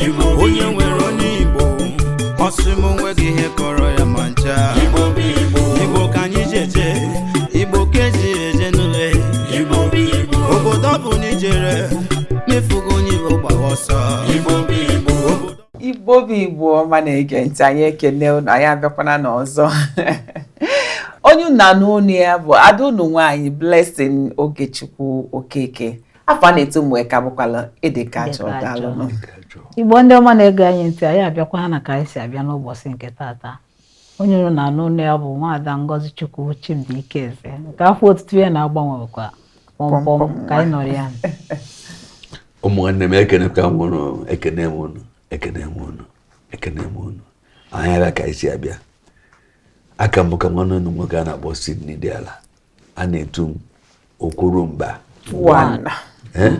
Igbo bụ onye Igbo. nwere onye igbo ọ sị m o nweghị ihe kọrọ ya ma ncha Igbo bụ Igbo. igbo ka anyị ji eje igbo ka eji eje n'ule Igbo bụ Igbo. obodo ọbụna i jere ma ị fụghọ onye igbo gbawa ọsọ Igbo bụ Igbo. igbo bụ igbo ọma na-ege ntị anyị ekene unu anyị abịakwana n'ọzọ onye unu na-anụ onu ya bụ ada unu nwaanyị Blessing Ogechukwu Okeke afa a na-etu m ka bụkwala ịdị ka achọ Ịdị ka daalụ achọ. nụ. igbo ndị ọma na-ege anyị ntị anyị abịakwa ha na ka anyị si abịa n'ụbọchị nke tata onye unu na-anụ olu ya bụ nwaada Ngozichukwu Chimdi Ikeze nke afa otutu ya na-agbanwekwa kpọmkpọm Kpọmkpọm. ka anyị nọrọ ya ụmụnne m ekenekwa m unu ekene m unu ekene m unu ekene m unu anyị abịa ka anyị si abịa aka m bụkwa nwanne unu nwoke a na-akpọ Sydney Diala a na-etu m okwuru mba eh?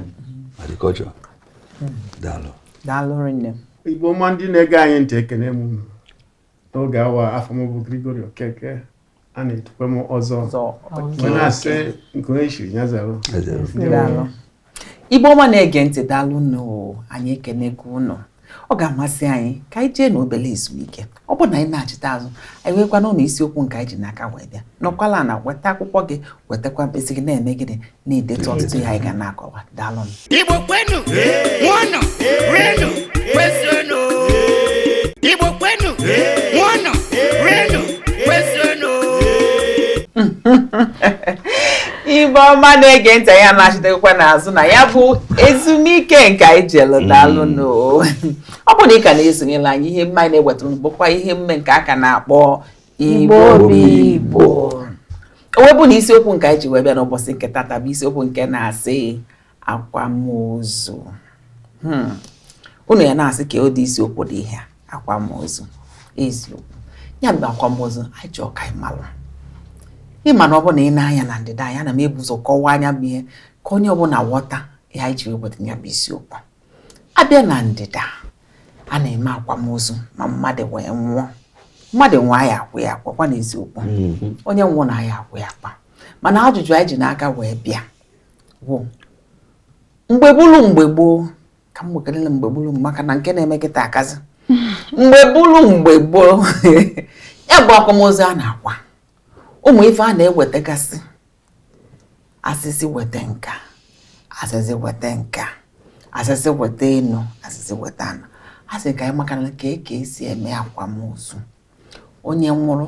agrikọlchọ daalụ daalụ rinne igbo ọma ndị na-ege anyị ntị ekene m unu n'oge awa afa m bụ Gregory Okeke a na-etukwa m ọzọ na-asị nke onye chiri ya zara Igbo ọma na-ege ntị daalụ nụ anyị ekenego ụnụ ọ ga-amasị anyị ka anyị jee n'obele ezumike ọ bụrụ na anyị nachita azụ anyị wee gwa ụnụ isiokwu nke anyị ji n'aka wee bịa nọkwalụ ana weta akwụkwọ gị wetakwa mkpịsị gị na-eme gịnị na-edetu ọtụtụ ihe anyị ga na-akọwa daalụ nụ Igbo kwenu ṅụọnụ rienu kwezuenu Igbo kwenu ṅụọnụ rienu kwezuenu Igbo ọma na-ege ntị anyị anachitakwana azụ na ya bụ ezumike nke anyị jelu daalụ mm. nụ ọ bụ na ị ka na-esonyela anyị ihe mme anyị na-ewetara unu bụkwa ihe mme nke a ka na-akpọ Igbo bụ Igbo o wee bụ na isiokwu nke anyị ji wee bịa n'ụbọchị nke tata bụ isiokwu nke na-asị akwamozu hmm. unu ya na-asị kee ụdị isiokwu dị ihe a akwamozu eziokwu ya bụ akwamozu anyị chọọ ka anyị malụ ịma na ọ bụ na ị na-anya na ndịda anya na m ebu ụzọ kọwaa ya bụ ihe ka onye ọbụla ghọta ihe anyị ji wepụta ya bụ isiokwu a bịa na ndịda a na-eme akwamozu ma mmadụ wee nwụọ mmadụ nwụọ a ya-akwa ya akwa kwa n'eziokwu mm-hmm. onye nwụọnụ a ya-akwa ya akwa mana ajụjụ anyị ji n'aka wee bịa bụ mgbe bụrụ mgbe gboo ka m gbagalele mgbe gburu maka na nke na-eme kịta akazi mgbe gburu mgbe gboo ya bụ akwamozu a na-akwa ụmụ ife a na-ewetagasị a sị sị weta nke a a sị sị weta nke a a sị sị weta enu a sị sị weta ana a sị ka anyị makwanụ ka eke esi eme akwamozu onye nwụrụ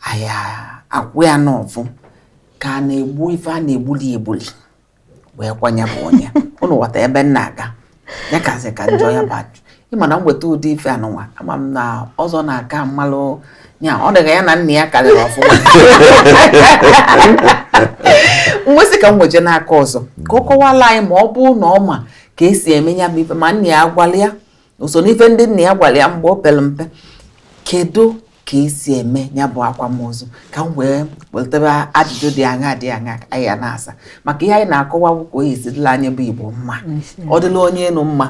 a ya-akwa ya n'ọfụ ka a na-egbu ife a na-egbuli egbuli wee kwaa ya bụ onye ụnụ ghọta ebe m na-aga ya kasị ka njọ ya bụ ịma na m weta ụdị ife anụnwa ama m na ọzọ na-aka mmalụ ya ọ dịka ya na nna ya karịrị ọfụma m wee sị ka m weje n'aka ọzọ ka ọ kọwala anyị ma ọ bụ na ọ ma ka esi eme ya bụ ife ma nna ya agwala ya o so n'ife ndị nna ya gwara ya mgbe o pere mpe kedu ka esi eme ya bụ akwamozu ka m wee wetebe ajụjụ dị aṅa dị aṅa anyị ya na-asa maka ihe anyị na-akọwa bụ ka ọ ya-esi dịla anyị bụ igbo mma ọ dịla onye enu mma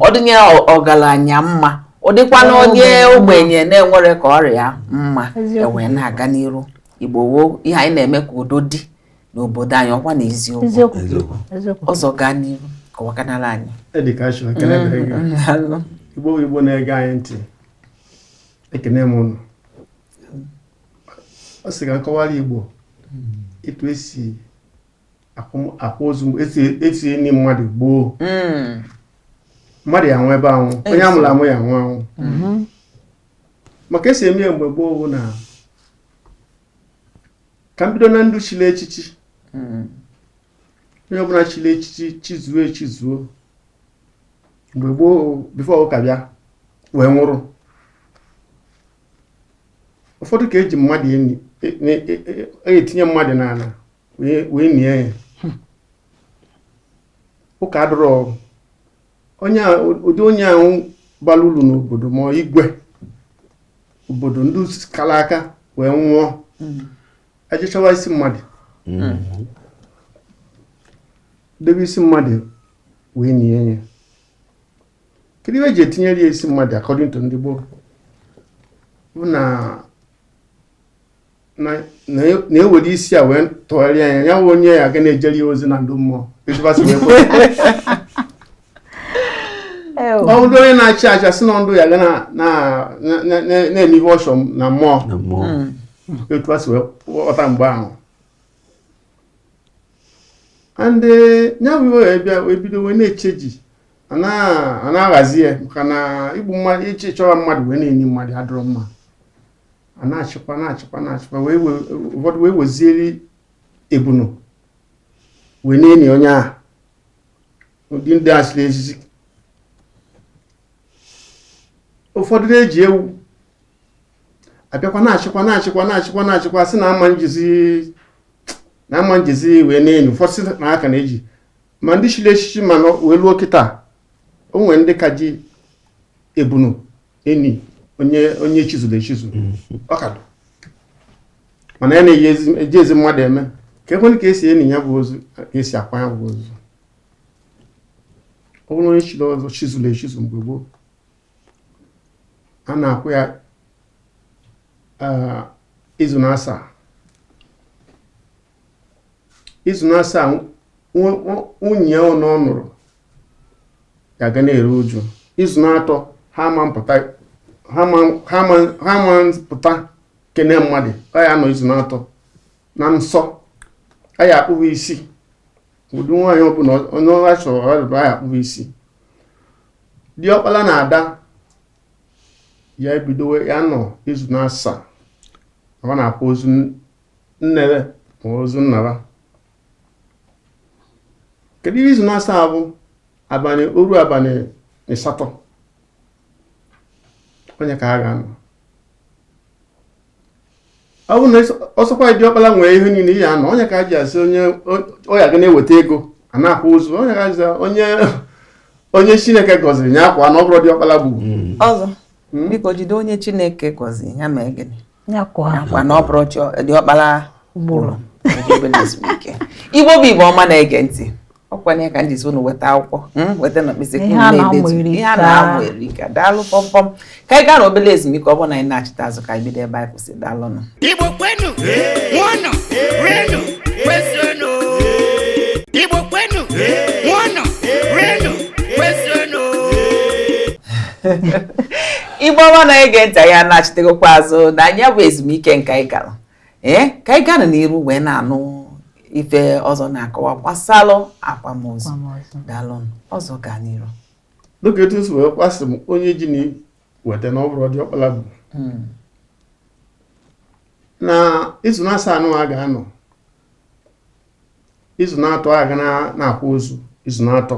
ọ dị onye ọgaranya mma ọ dịkwana onye ogbenye na-enwerọ ka ọ ra ya mma e wee na-aga n'iru igbo woo ihe anyị na-eme ka udo dị n'obodo anyị ọkwa na eziokwu ọzọ gaa n'iru kọwakanala anyị mm, igbo igbo na-ege anyị ntị ekene m ụnụ ọ sị ka m kọwara igbo etu esi akwa ozu esi eni mmadụ gboo mm. mmadụ ya nwee ebe anwụ onye a mụrụ amụ ya-anwụ anwụ mm-hmm. ma ka esi eme ya mgbe gboo bụ na ka m bido na ndụ chiri echichi hmm. onye ọbụla chiri echichi chizuo echizuo mgbe gboo before ụka bịa wee nwụrụ ụfọdụ ka eji mmadụ etinye e, e, e, mmadụ n'ala wee nie ya ụka adịrọ onye a- ụdị onye ahụ bara uru n'obodo ma ọ igwe obodo ndị kara aka wee nwụọ e je chawa isi mmadụ debe isi mmadụ wee nie ya kedu ihe eji etinyere ya isi mmadụ according to ndị gboo bụ na na na e- na ewere isi a wee tụgharịa ya ya bụ onye ya ga na-ejere ya ozi na ndụ mmụọ etu fa si wee kwe Ew. ọ bụrụ onye na-achị achị a sị na ndụ ya ga na- na- na- na- na- na-eme ihe ọ chọ na mmụọ na mmụọ etu a si wee ghọta mgbe ahụ and ya bụ ihe wee bịa wee bido wee na-echenji a na- a na-ahazi ya maka na igbu mmadụ ije chọwa mmadụ wee na-eni mmadụ adịrọ mma a na-achịkwa na-achịkwa na-achịkwa wee we- ụfọdụ wee wezieri ebunu wee na-eni onye ahụ ụdị ndị a chiri echichi ụfọdụ na-eji ewu a bịakwa na-achịkwa na-achịkwa na-achịkwa na-achịkwa sị na a ma-ejizi na a ma-ejizi wee na-eni ụfọdụ sị na a ka na-eji ma ndị chiri echichi mana wee luo kịta o nwere ndị ka ji ebunu eni onye onye chizuru echizu mm-hmm. ọ ka dụ mana ya na-ejizi mmadụ eme ka e kwuenụ ka esi eni ya bụ ozu ka esi akwa ya bụ ozu ọ bụrụ onye chiri ọzọ chizuru echizu mgbe gboo a na-akwa ya izu na asaa izu na asaa nwunye ya ọ nụ ọ nụrụ ga-aga na-eru uju izu na atọ ha ma mpụta ha ma mpụta kene mmadụ a ya-anọ izu na atọ na nsọ a ya-akpụ va isi ụdị nwaanyị ọbụla onye ọha chọrọ ọrịa a ya-akpụ va isi diọkpala na ada ya ebido ya-anọ izu na asaa ọ na-akwa ozu nne va ma ozu nna va kedu ihe izu na asaa bụ abalị oru abalị ịsatọ onye ka a ga-anọ ọ bụ na ọ sọkwa diọkpala nwe ihe niile ya-anọ onye ka jisị ọ ya ga na-eweta ego a na-akwa ozu onye ka ji onye onye chineke gọziri ya akwaa na ọ bụrọ diọkpala gburu ọzọ biko jide onye chineke gọziri ya mee gịnị ya akwaa na ọ bụrọ diọkpara gburu igbo bụ igbo ọma na-ege ntị ọkwanụ ya ka m ji sị unu weta akwụkwọ hmm, weta na mkpịsị ihe a na-amụ erika daalụ pọmpọm ka anyị gaa na obere ezumike ọ bụrụ na anyị nachita azụ ka anyị bido ebe anyị kwụsị daalụnụ igbo kwenu ṅụọnụ rienu kwezuenu igbo kwenu ṅụọnụ rienu kwezuenu ibe ọma na-ege ntị anyị anachitegokwa azụ na ya bụ ezumike nke anyị gara ee ka anyị gaa n'iru wee na-anụ ife ọzọ na-akọwa gbasalụ akwamozu daalụnụ ọzọ gaa n'iru dịka etu si wee gwasị m onye ji nya weta na ọ bụrọ diọkpala gburu hmm. na izu na asaa nụwa a ga-anọ izu na-atọ a ga na- na-akwa ozu izu na-atọ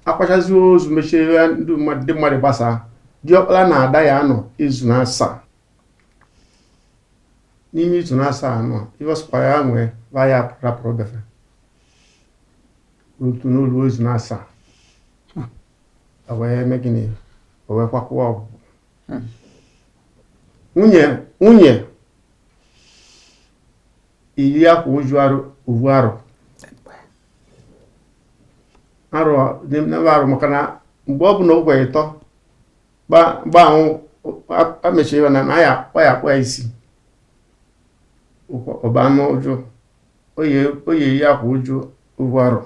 akwachazi ozu mesịa ndị mmadụ gbasaa diọkpara na ada ya anọ izu na asaa n'ime izu na asaa anọ ihe ọ sọkwara ya mee va ya-arapụrọ befe otu n'olu izu na asaa o wee mee gịnị o wee kwakụwa ọgwụ Hmm. nwunye nwunye ya eyi akwa uju arọ ovu arọ arọ n'ebe arụ maka na mgbe ọ bụ na ụgwọ ịtọ gba anwụ emesịa va ya-akpụ ya isi ọ banye uju ọ ya-eyi akwa uju ovu arọ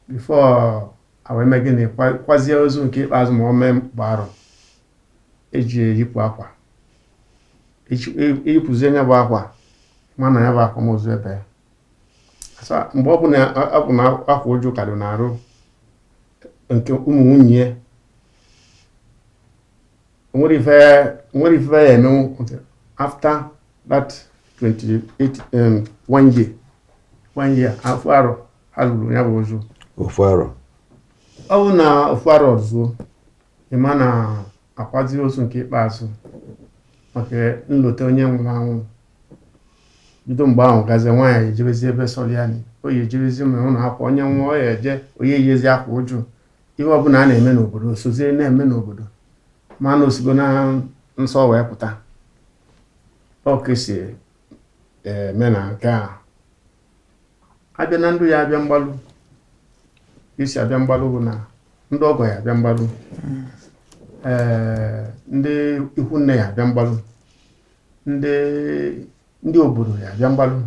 before awee mee gịnị kwazie ozu nke ikpeazụ ma ọ mee mgba arọ eji eyipụ akwa eyipụzie nya bụ akwa ma na ya bụ akwamozu ebe ya mgbe ọ bụ na akwa uju ka dị n'arụ nke ụmụ nwunye nwere ife ya emenwu after that 28 um, one year one year ofu arọ ha lụrụ ya bụ ozu ofu arọ ọ bụ na ofu arọ zuo ịma na akwazi ozu nke ikpeazụ maka nlota onye nwụrụ anwụ bido mgbe ahụ gazie nwaanyị ejebezi ebe sọlụ ya nị ọ ya ejebezi ma ụlọ akwa onye nwụọ ọ ya eje ọ ya eyizi akwa uju ihe ọbụla a na-eme n'obodo sozie na-eme n'obodo ma na osigo na nsọ wee pụta ọ ka esi eme na nke a abịa na ndị ya abịa mgbalụ isi abịa mgbalụ bụ na ndị ọgọ ya abịa mgbalụ ee ndị ikwu nne ya abịa mgbalụ ndị ndị obodo ya abịa mgbalụ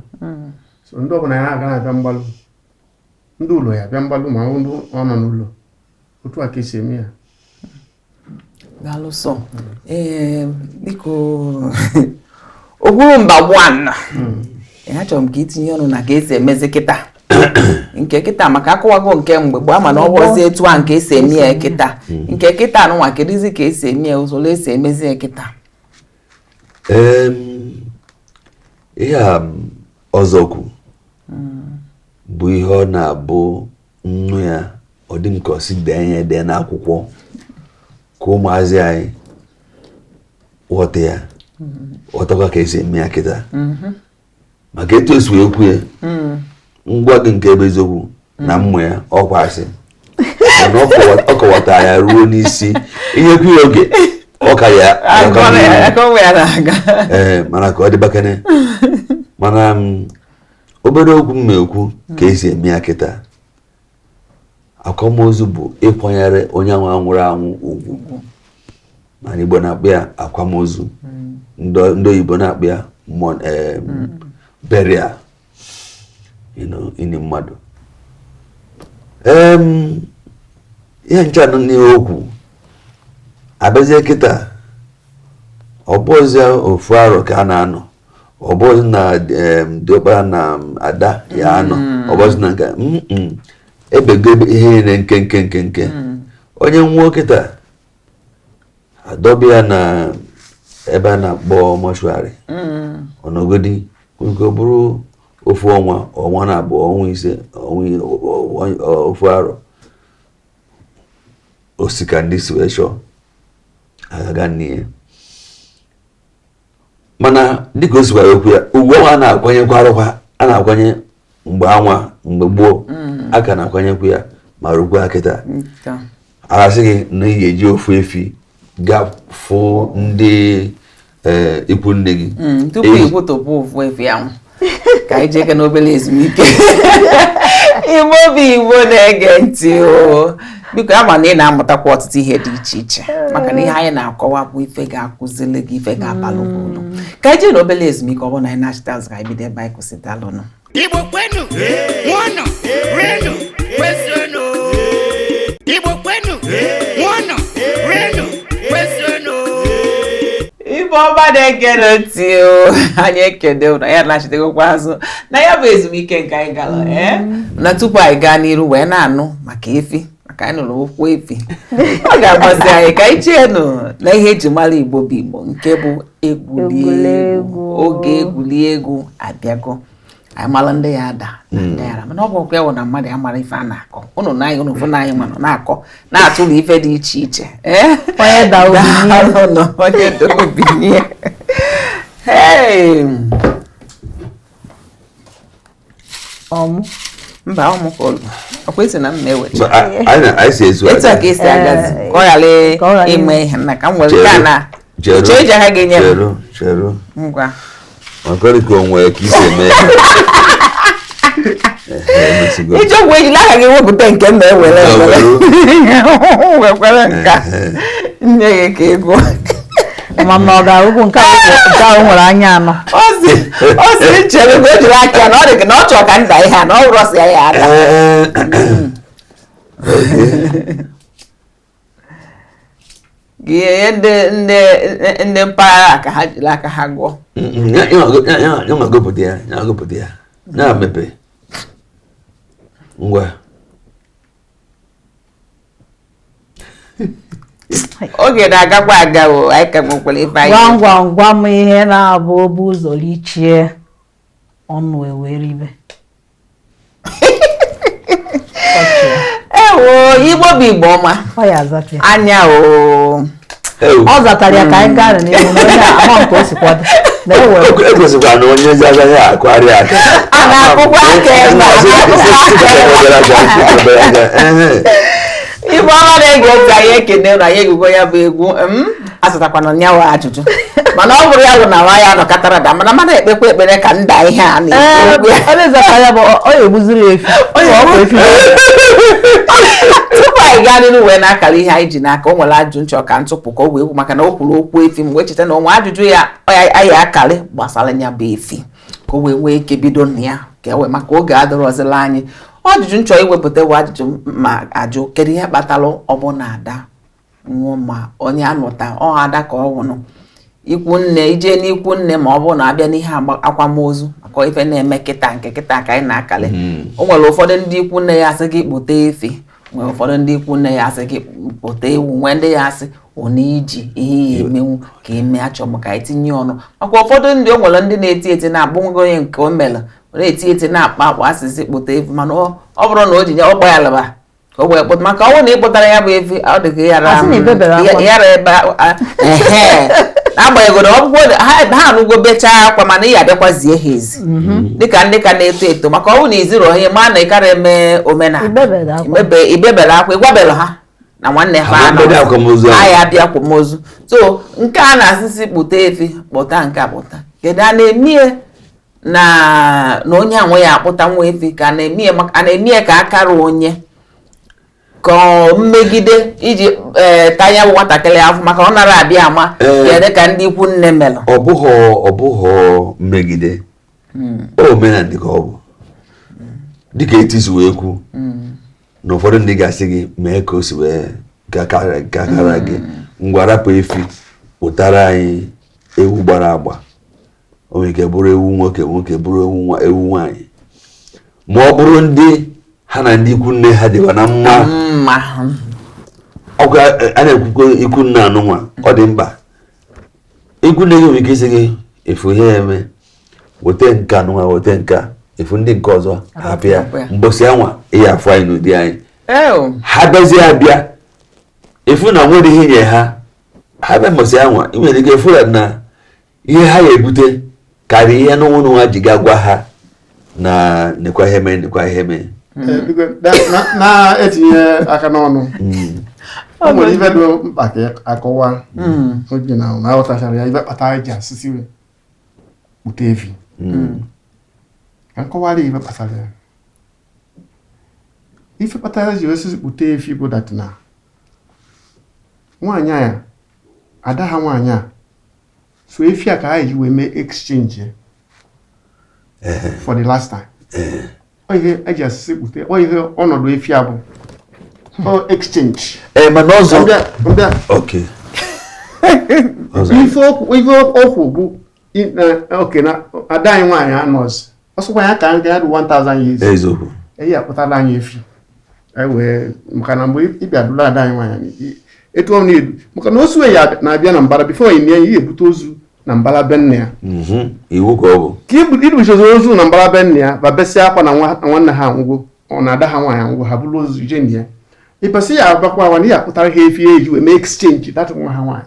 so ndị ọbụla ya na-aga na-abịa mgbalụ ndị ụlọ ya abịa mgbalụ ma ndị ọ nọ n'ụlọ otu a ka esi eme ya daalụ sọ ee biko ogburu mba one achọrọ m ka itinye ọnụ na ka esi emezi kịta nke kịta maka akọwago nke mgbe gboo ama na ọ bụzi etu a nke esi eme ya kịta hmm. nke kịta anụnwa kedụzi ka esi eme ya usoro esi emezi ya kịta ihe a ọzọkwu bụ ihe ọ na-abụ nnu ya ọ dị m ka asị dee ya edee n'akwụkwọ ka ụmụazị anyị ghọta ya ghọtakwa ka esi eme ya kịta maka etu esi wee kwu ya m gwa gị nke bụ eziokwu na hmm. mmụ ya ọ kwa asị na ọ kọwata ya ruo n'isi inyekwu ya oge ọ ka ya ee mana ka ọ dịbakene mana um, obere okwu m na-ekwu ka esi eme ya kịta akwamozu bụ ịkwanyere onye ahụ nwụrụ anwụ ugwu mana igbo na-akpọ ya akwamozu ndị oyibo na-akpọ ya eh, burial ini mmadụ ihe ncha nọ n'ihe okwu abịazie kịta ọbụzi ofu arọ ka a na-anọ ọbụzi na diọkpara na ada ya anọ hmm. ọbụzi na nka ebego ihe niile nkenke nkenke hmm. onye nwụọ kịta e dọba ya na ebe a na-akpọ mortuary ọ nọgodi nke ọ bụrụ ofu ọnwa ọnwa na abụọ ọnwa ise ọnwa i- ọ- ọ- ọ- ofu arọ o si ka ndị si wee chọọ a ga-aga nie ya mana dịka o sikwara kwuo ya ugwu anwa a na-akwanyekwa arụkwa a na-akwanye mgbe anwa mgbe gboo mm. a ka na-akwanyekwa ya ma rukwa kịta a ga-asị gị na ị ga-eji ofu efi gaa fụ ndị eh, ikwu nne gị mm, tupu ị kwụtụpụ ofu efi ahụ ka anyị jee ka n'obere ezumike igbo bụ igbo na-ege ntị o biko ama na ị na-amụtakwa ọtụtụ ihe dị iche iche maka na ihe anyị na-akọwa bụ ife ga-akụzili gị ife ga-abalụ gị ulu mm. ka anyị jee n'obere ezumike ọ bụrụ na anyị nachita azụ ka anyị bido ebe anyị kwụsị daalụnụ igbo kwenu ṅụọnụ rienu kwezuenu igbo kwenu igbo ọma na-ege ntị o anyị ekene ụnụ anyị anachitegokwa azụ na ya bụ ezumike nke anyị gara mm. eh? na tupu anyị gaa n'iru wee na-anụ maka efi maka anyị nụrụ okwu efi ọ ga-agbazi anyị ka anyị jeenụ na ihe eji mara igbo bụ igbo nke bụ egwuregwu oge egwuregwu abịago anyị mara ndị ya-ada na ndị ya-ara mana ọ bụ ọkwa ya wụ na mmadụ ya mara ife a na-akọ ụnụ na anyị ụnụ fụ na anyị manụ na-akọ na-atụrụ ife dị iche iche ee onye da obi n'ihe Daalụ nọ, onye dị obi n'ihe. Hey! ọmụ mba ọ mụkwa olu ọkwa esi na m na-ewecha Anyị na- anyị si ezu etu a aga. ka esi agazi ka ọ ghara ka ọ ghara ime ihe na ka m were Chere. nke a na oche eji ha ga-enye m cheru cheru ngwa makọrị ka o nwere ka isi eme Ehe, emesigo. iji ọgwụ ejila aka gị wepụta nke m ma ewere Ya ewere. were. wekwere nke a nye gị ka ego ma ma ọ ga-arụkwu nke ahụ nke ahụ nwere anya anọ ozi ozi nchere mgbe o jiri aka ya na ọ dị gị na ọ chọrọ ka nda ihe a na ọ rọsịa ya ada Ee, ihe ndị ndị ndị mpaghara ka ha jiri aka ha gụọ nya gụpụta ya nya gụpụta ya na-emepe ngwa oge na-agakwa aga o anyị ka nwekwara ife anyị gwam gwam gwam ihe na-abụ o bu ụzọ richie ọnụ eweribe ewo igbo bụ igbo ọma anya o ọ zatara ya ka anyị gaa n'ihu onye ama nke o si kwado ekwesịkwara na onye ezi agaghị akụgharị aka a na-akụkwa aka ebe a igbo ọma na-ege ntị anyị ekene na anyị egwugo ya bụ egwu azatakwanụ nyawa ajụjụ mana ọ bụrụ ya bụ na nwa ya nọkọtara da mana mana ekpekwa ekpere ka nda ihe a na-ekwu tupu anyị gaa n'ihu wee na-akara ihe anyị ji n'aka o nwere ajụjụ m chọ ka m tụpụ ka o wee kwu maka na o kwuru okwu efi m wee cheta na o nwe ajụjụ ya anyị akarị gbasara ya bụ efi ka o wee nwee ike bido na ya ka e wee maka oge adịrọzịlị anyị ajụjụ m chọ iwepụta bụ ajụjụ m ya-ajụ kedu ihe kpatara ọ bụ na ada nwụọ ma onye a nụta ọ ada ka ọ nwụrụ ikwu nne i je n'ikwu nne ma ọ bụrụ na a bịa n'ihe akwamozu maka ife na-eme kịta nke kịta ka anyị na-akali hmm. o nwere ụfọdụ ndị ikwu nne ya-asị gị kpụta efi nwere ụfọdụ ndị ikwu nne ya-asị gị kpụta ewu nwee ndị ya-asị ọ na iji ihe ị ya-emenwu ka eme achọ maka itinye ọnụ maka ụfọdụ ndị o nwere ndị na-eti eti na-abụ nwa onye nke o mere na-eti eti na-akpa akpa a sị sị kpụta efi mana ọ bụrụ na o ji ya ọ gba ya laba o wee kpụta maka ọ bụrụ na ị kpụtara ya bụ efi ọ dị ka yara Asị na ibebere akwa. yara ebe a- a- ehe. n'agbanyeghị na ọ bụgo na ha ha anụgo bechaa akwa mana ị ya-abịakwa zie ha ozi dịka ndị ka na-eto eto maka ọ bụ na i zirọ onye ma na ị kara eme omenala Ibebere akwa. Imebe- ibebere akwa ịgwabere ha na nwanne ha Ha anọ. bịara akwamozu ahụ. anyị abịa akwamozu so nke a na-asị sị kpụta efi kpụta nke a kpụta kedu a na-eme ya na na onye a nwe ya akpụtanwu efi ka a na-eme ya ka akara onye ka mmegide iji e, tanya bụ nwatakịrị afụ maka ọ nara abịa ama kedu ka ndị ikwu nne melụ ọ bụghị ọ bụghị mmegide hmm. omenala dị ka ọ bụ dịka etu i si wee kwu hmm. na ụfọdụ ndị ga-asị gị mee ka o si wee gakara gị hmm. ngwa rapụ efi kpụtara anyị ewu gbara agba o nwere ike bụrụ ewu nwoke nwoke bụrụ ewu nwa ewu nwaanyị ma ọ bụrụ ndị ha na ndị ikwu nne ha dịba na mma mma ọ ga a na-ekwukwo ikwu nne anụnwa ọ dị mkpa ikwu nne gị nwere ike ịsị gị ị fụ ihe ị ya-eme weta nke anụnwa weta nke a, ị fụ ndị nke ọzọ hapụ ya Hapụ ya. mbọsị anwa ị ya-afụ anyị n'ụdị anyị eo ha bịazie abịa ị fụ na nwere ihe nye ha ha bịa mbọsị anwa ị nwere ike ịfụ ya na ihe ha ya ebute karịa ihe n'onwe n'onwe ha ji ga gwa ha na nekwa ihe mee nekwa ihe mee na-etinye aka n'ọnụ o nwere ife dị mkpa ka akọwa oge na na aghọtachara ya ife kpata anyị ji asị sị we kpụta efi ka m kọwara ife kpatara ya ife kpatara eji asị sị kpụta efi bụ dat na nwaanyị a ada ha nwaanyị a so efi a ka ha ji wee mee exchange for the last time ọ ihe eji asị sị kpụte ọ ihe ọnọdụ efi a bụ ọ exchange ee mana ọzọ mbịa mbịa oke ọzọ ife okwu ife okwu bụ I- na- oke na ada anyị nwaanyị anọzi ọ sọkwa ya ka anyị ga-adụ 1000 years eziokwu eji akpụtala anyị efi anyị wee maka na mgbe ị bịa dụla ada anyị nwaanyị i- etu ọ na-edu maka na ozu ya na-abịa na mbara bifo ị nye ya ihe ebute ozu na mbara be nne ya Mhm. iwu ka ọ bụ ka ibu- ibuchezi ozu na mbara be nne ya ba besịa akwa na nwa- na nwanne ha anwụgo ọ na ada ha nwaanyị anwụgo ha buru ozu je nne ya ịbasị ya agbakwa awa na ihe akpụtara ha efi eji wee mee exchange dat nwa ha nwaanyị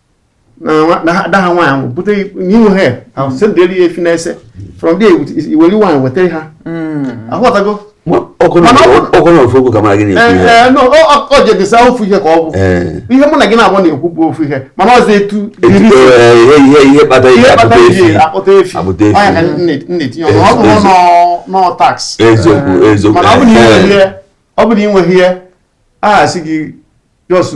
na ada ha nwaanyị ahụ bute n'ihu ha ahụ sendịrị ya efi na-ese from there iweli nwaanyị wetara ha aghọtago ọ jedesa ofu ihe ka ọ bụ ihe mụ na gị na-agba na-ekwu bụ ofu ihe mana ọzọ etu ihe kpata iji akpụta efi ọ nya ka a na-etinye ọnụ ọ bụrụ na ọ tax mana ọ bụrụ na ị nweghị ihe a sị gị just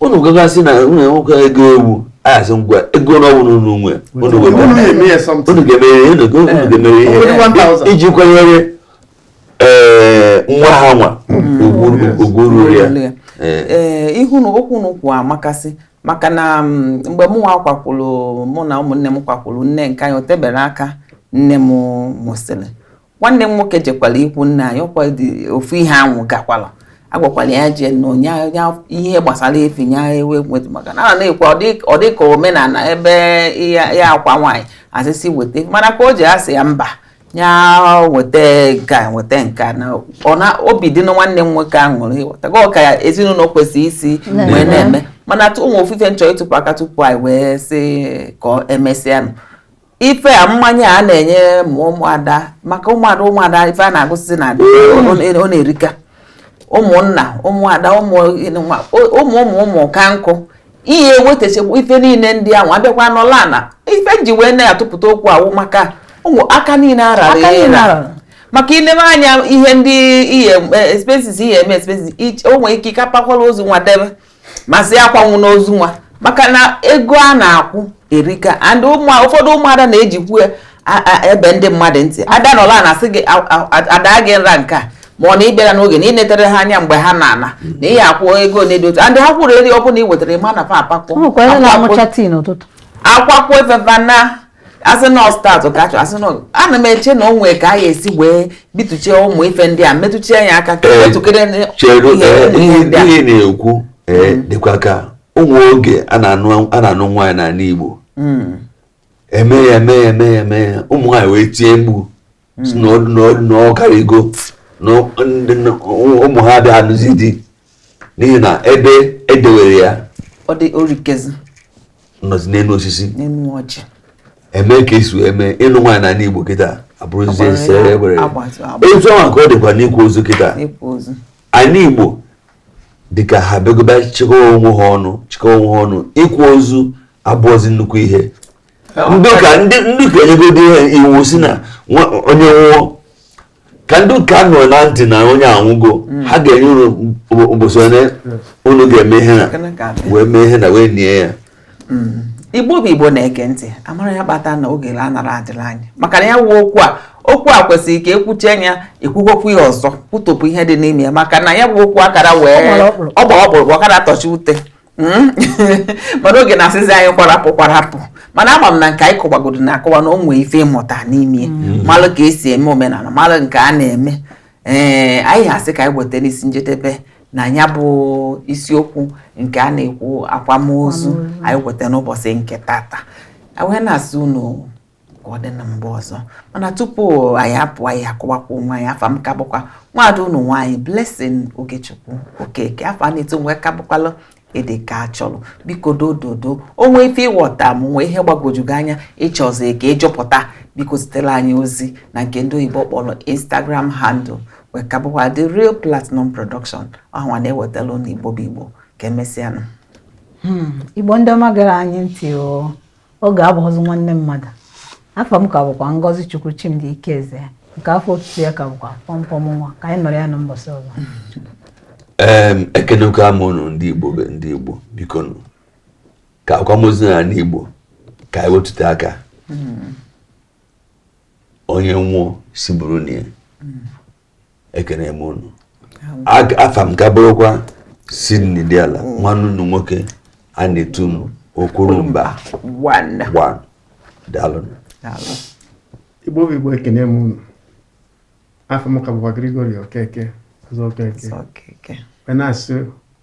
unu ga-asị na unu enwekwa ego ewu a sị ngwa ego one unu nwe unu ga-emere ihe iji kwanyere eh, nwa ha nwa hmm. ugwu ruru ya eh. Eh, ihu na okwu na ụkwụ amakasị maka na mm, mgbe mụ nwa kwakwuru mụ na ụmụnne m kwakwuru nne nke anyị o teberọ aka nne m nwụsịrị nwanne m nwoke jekwara ikwu nne anyị ọkwa ofu ihe ahụ gakwala agwakwala ya jee na onye ihe gbasara efi nya ewe nwetụ maka na a na-ekwu ọ dị ka omenala ebe ya akwa nwaanyị asị sị weta mana ka o ji asị ya mba ya weta nke a weta nke a na obi dị na nwanne m nwoke ahụ ṅụrụ ịghọtago ka ezinụlọ kwesịrị isi wee na-eme mana o nwe ofu ife m chọ ịtụpụ aka tupu anyị wee sị ka emesịanụ ife a mmanya a na-enye ma ụmụada maka ụmụada ụmụada ife a na-agụsịzi na ọ na-erika ụmụnna ụmụada ụmụ ụmụ ụmụ ka nkụ ihe wetachakwa ife niile ndị ahụ abịakwa n'ọla na ife eji wee na-atụpụta okwu a wụ maka ụmụ aka niile arara maka ilebe anya ihe ndị ihe expenses ihe eme expenses o nwere ike ịkapakwala ozu nwa debe masị akwanwụ n'ozu nwa maka na ego a na-akwụ erika and ụfọdụ ụmụada na-ejikwu ebe ndị mmadụ ntị ada nọla na asị gị ada gị nra nke a mana ị bịara n'oge na ị netere ha anya mgbe ha na-ana na ị ya-akwụ ego ole dị otu and ha kwụrụ eri ọ bụla ị wetara ịma na fa akpakpọ akwakwo efefa na asị na ọ start ka achọ asị na ana m eche na o nwee ka a ga-esi wee bituchie ụmụ ife ndị a metụchie ya aka ka metụkere ihe na-ekwu mm. dịkwa ka o nwee oge a na-anụ nwaanyị n'ala Igbo mm. eme ya eme ya eme ya eme ya ụmụ nwaanyị wee tie mkpu na ọ karịgo na ụmụ ha bịa anụzi di n'ihi na ebe edewere ya nọzi n'elu osisi eme ka esi eme ịnụ nwaanyị n'ala Igbo kịta abụrụzi ese ewere etu ahụ ka ọ dịkwa n'ịkwa ozu kịta anị Igbo dịka ha bịagoba chịkọwa onwe ha ọnụ chịkọwa onwe ha ọnụ ịkwa ozu abụọzi nnukwu ihe ndị ụka enyegodi ihe iwu sị na onye nwụọ ka ndị ụka nụrụ na ntị na onye anwụgo hmm. ha ga-enye unu ụbọchị onye unu ga-eme ihe na wee mee ihe na wee nie ya hmm. igbo bụ igbo na-ege ntị amara ya kpata na oge la anara adịla anyị maka na ya wụ okwu a okwu a kwesịrị ka ekwuchie anya ekwukwa okwu ya ọzọ kwutopụ ihe dị n'ime ya maka na ya bụ okwu akara wee ọ gba ọkpụrụkpụ ọ kara tọchi ute hmm? mana oge na-asịzi anyị kwarapụ kwarapụ mana ama m na nke anyị kọwagodo na-akọwa na o nwee ife ị mụta n'ime hmm. malụ ka esi eme omenala malụ nke a na-eme ee eh, anyị asị ka anyị weta n'isi njedebe na ya bụ isiokwu nke a na-ekwu akwamozu anyị weta n'ụbọsị nke tata wee na-asị unu ka ọ dị na mgbe ọzọ mana tupu anyị apụ anyị akọwakwa onwe anyị afa m ka bụkwa nwaada unu nwaanyị Blessing Ogechukwu Okeke afa a na-etu m wee ka bụkwalụ ịdị ka achọrọ biko dododo o nwee ife ị ghọta ma o nwee ihe gbagwoju gị anya ị chọzi ka ị jụpụta biko zitere anyị ozi na nke ndị oyibo kpọrọ Instagram handle wee ka bụkwa The Real Platinum Production ọ hanwa na-ewetala unu igbo bụ igbo ka emesịanụ hmm, igbo ndị ọma gara anyị ntị o Oge abụhọzi nwanne mmadụ. Afa m ka bụkwa Ngozi Chukwu Chimdi Ikeze nke afa otutu ya ka bụkwa pọmpọm nwa ka anyị nọrọ ya na mbọsị ọzọ. Em, ekenekwa m unu ndị Igbo be ndị Igbo bikonụ ka akwamozu na ndị Igbo ka anyị wetụta aka onye nwụọ sị buru nie ya ekene m unu afa m ka bụrụkwa Sydney Diala mm. nwanne unu nwoke a na-etu m Okwurumba daalụ igbo bụ igbo ekene m unu afa m ka bụkwa Gregory Okeke ọzọ Okeke na-asị